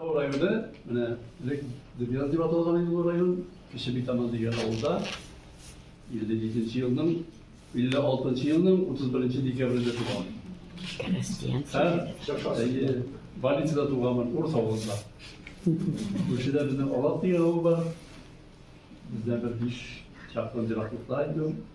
Бу районы, менә элек Дебяз дип аталган иде бу район, Кече Битаман дигән авылда 57 елның 56 елның 31 декабрендә туган. Һәм больницада туганмын, Урыс авылында. Күршедә безнең Алат дигән авыл бар. Бездән бер биш чакрым ераклыкта инде ул.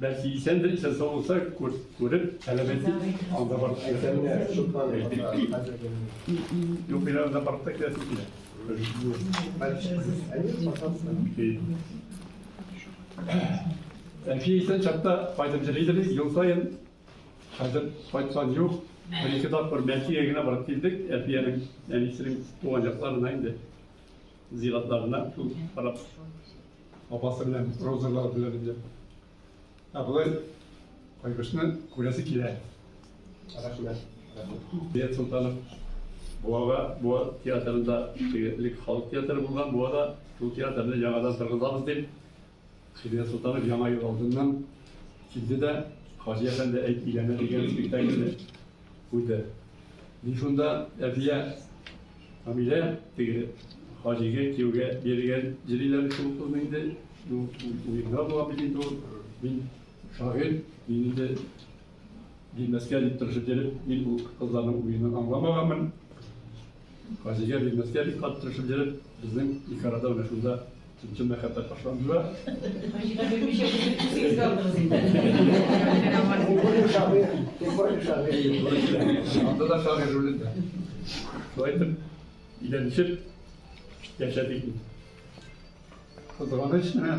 Бәлки исәндер, исән сау булса, күреп, таләп итик, анда барып китәргә. Юк, мин анда барып та китәсем килә. Әлфия исән чакта кайтып җырлыйдыр, ел саен хәзер кайткан юк. Бер-ике тапкыр Бәлкигә генә барып килдек, Әлфиянең әнисенең туган якларына инде. Зиратларына күп карап, апасы белән розалар белән инде. Ә болай кайбышны күрәсе килә. Рәхмәт. Бет Солтанов Буага Буа театрында элек халык театры булган, Буада шул театрны яңадан торгызабыз дип Сирия Солтанов Яңа ел алдыннан килде дә Хаҗи әфәнде әйт өйләнә дигән спектакльне куйды. Мин шунда әбия Камилә теге Хаҗига кияүгә бирелгән җыриләр шул кызны инде уенда була бит инде ул. Мин шагыйрь, мин инде Бирмәскә дип тырышып йөреп, мин ул кызларның уенын аңламаганмын. Газигә бирмәскә бик кат тырышып йөреп, безнең ике арада менә шунда чын мәхәббәт башланды да. Газигә бирмичә биреп үзегез алдыгыз инде. Бу шагыйрь, бу шагыйрь. Анда да шагыйрь ролендә. Шулай итеп, өйләнешеп яшәдек. Кызганыч менә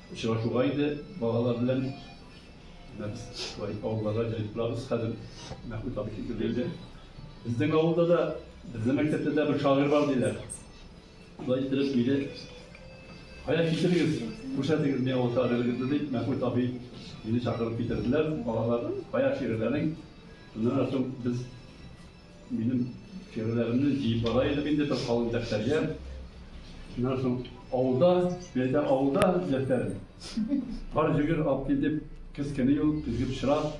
Очрашуга инде балалар белән менә без шулай авылларга җәелеп торабыз. Хәзер Мәхмүт абый китеп килде. Безнең авылда да, безнең мәктәптә дә бер шагыйрь бар диләр. Шулай иттереп мине кая китерегез, күрсәтегез миңа ул шагыйрегезне, дип, Мәхмүт абый мине чакырып китерделәр. Балалар, кая шигырьләрең? Шуннан соң без Минем тиреләремне җыеп бара идем инде бер калын дәфтәргә. Шуннан соң авылда, мәйдә авылда дәфтәр. Бар җигер алып кил дип, кыз кеби ул, көзге пычрак.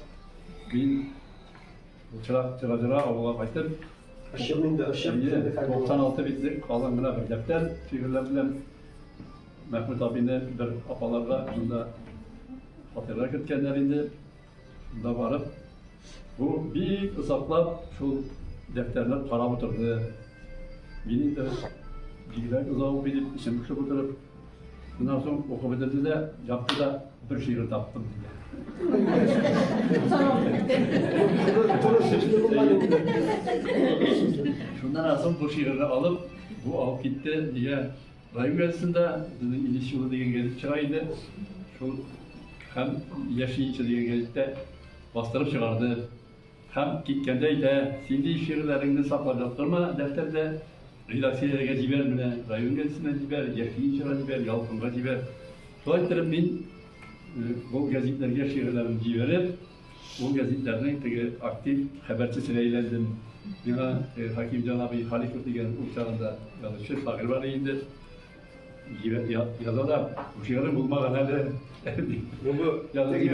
Мин пычрак тыра-тыра авылга кайтып. Ачык инде, ачык. Әйе, 96 битлек калын гына бер дәфтәр тиреләр белән Мәхмүт абыйны бер апаларга шунда фатирга керткәннәр инде. Монда барып, бу бик озаклап шул дәфтәрне карап утырды. Мин инде бигрәк озак укый дип эчем пошып утырып, шуннан соң укып бетерде дә, япты да бер шигырь таптым диде. Шуннан соң бу шигырьне алып, бу алып китте, нигә Район газетында безнең Илеш юлы дигән газет чыга иде. Шул һәм Яшенче дигән газеттә бастырып чыгарды. Һәм киткәндә әйтә, син ди шигырьләреңне саклап яттырма дәфтәрдә, редакцияләргә җибәр менә, район газетына җибәр, Яшенчега җибәр, Ялкынга җибәр. Шулай иттереп мин бу газетләргә шигырьләремне җибәреп, Ул гәзитләрнең теге актив хәбәрчесенә әйләндем. Миңа Хакимҗан абый Халиков дигән ул чагында язучы, шагыйрь бар инде. Җибәр, язалар. Шигырем булмаган әле. Бу